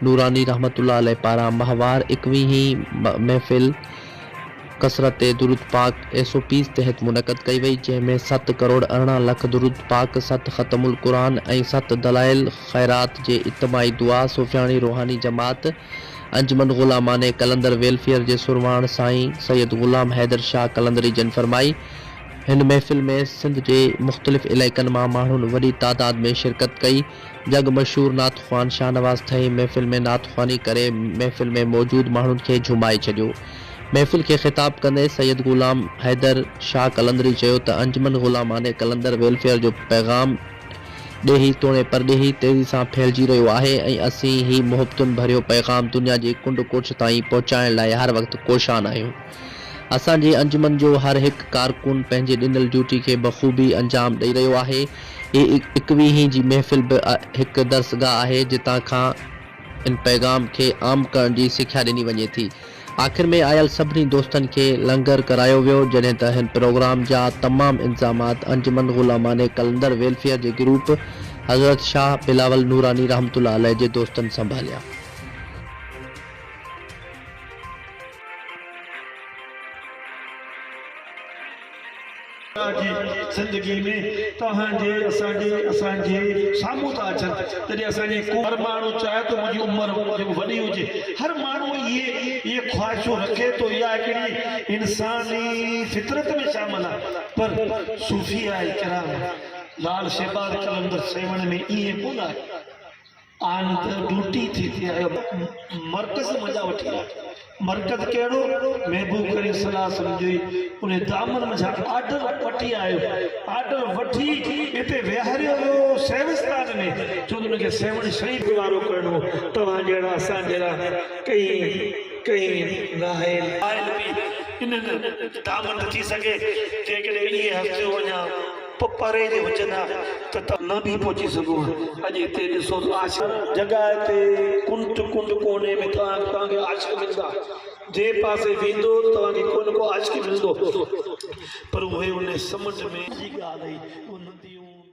نوراني رحمة الله عليه پاران ماهوار ايڪويهين محفل ڪثرت درود پاڪ ايس او پيز تحت منعقد ڪئي وئي جنهن ۾ ست ڪروڙ ارڙهن لک درود پاڪ ست ختم القرآن ۽ ست دلائل خيرات جي اجتماعي دعا صوفياڻي روحاني جماعت انجمن غلامانه قلندر ويلفيئر جي سرواڻ سائين سيد غلام حيدر شاهه قلندري جن فرمائي هن محفل ۾ سنڌ جي مختلف علائقن مان ماڻهن وڏي تعداد ۾ شرڪت ڪئي جڳ مشهور نعت خوان شاهنواز ٿهي محفل ۾ نعت خواني ڪري محفل ۾ موجود ماڻهن کي جهومائي ڇڏيو. محفل کي خطاب ڪندي سيد غلام حيدر شاهه قلندري چيو ته انجمن غلامانه قلندر ويلفيئر جو پيغام ڏيهي توڻي پرڏيهي تيزي سان ڦهلجي رهيو آهي ۽ اسين هي محبتن ڀريو پيغام دنيا جي ڪنڊ ڪوٺ تائين پهچائڻ لاء هر وقت ڪوشان آهيون. اسان جي انجمن جو هر هڪ ڪارڪن پنهنجي ڏنل ڊيوٽي کي بخوبي انجام ڏئي رهيو آهي. هي اڪويهين جي محفل به هڪ درسگاهه آهي جتان کان ان پيغام کي عام ڪرڻ جي سکيا ڏني وڃي ٿي. آخر ۾ آيل سڀني دوستن کي لنگر ڪرايو ويو جڏهن ته هن پروگرام جا تمام انتظامات انجمن غلامانه قلندر ويلفيئر جي گروپ حضرت شاهه بلاول نوراني رحمة الله عليه جي دوستن سنڀاليا. جي زندگي ۾ توهان جي اسان جي اسان جي سامهون ٿا اچن جڏهن اسان جي ڪو هر ماڻهو چاهي ٿو منهنجي عمر وڏي هجي هر ماڻهو اهي اهي خواهشون رکي ٿو اها هڪڙي انساني فطرت ۾ شامل آهي پر صوفياء ڪرام لال شهباز قلندر سيوهڻ ۾ ائين ڪونه آهي آن ته ڊوٽي ٿي تي آيو مرڪز مزا وٺي آ مرڪز ڪهڙو محبوب ڪريم صلاح سمجهوئي ان دامن مزا آرڊر وٺي آيو آرڊر وٺي اتي ويهاريو ويو سيوستان ۾ چون ان کي سيوهڻ شهيد گذارو ڪرڻو توهان جهڙا اسان جهڙا ڪئي ڪئي ناهل آهل به انهن دامن ٿي سگهي جيڪڏهن اهي هستيون اڃا پ پري جي هجن ها ته ته نه به پهچي سگهون ها. اڄ هتي ڏسو ته عاشق. جڳهه تي ڪنڊ ڪنڊ ڪوني ۾ توهان توهان کي عاشق ملندا. جنهن پاسي ويندو توهان کي ڪو نه ڪو عاشق ملندو. پر اهي ان سمنڊ ۾. جي ڳالهه هئي. اهي نديون.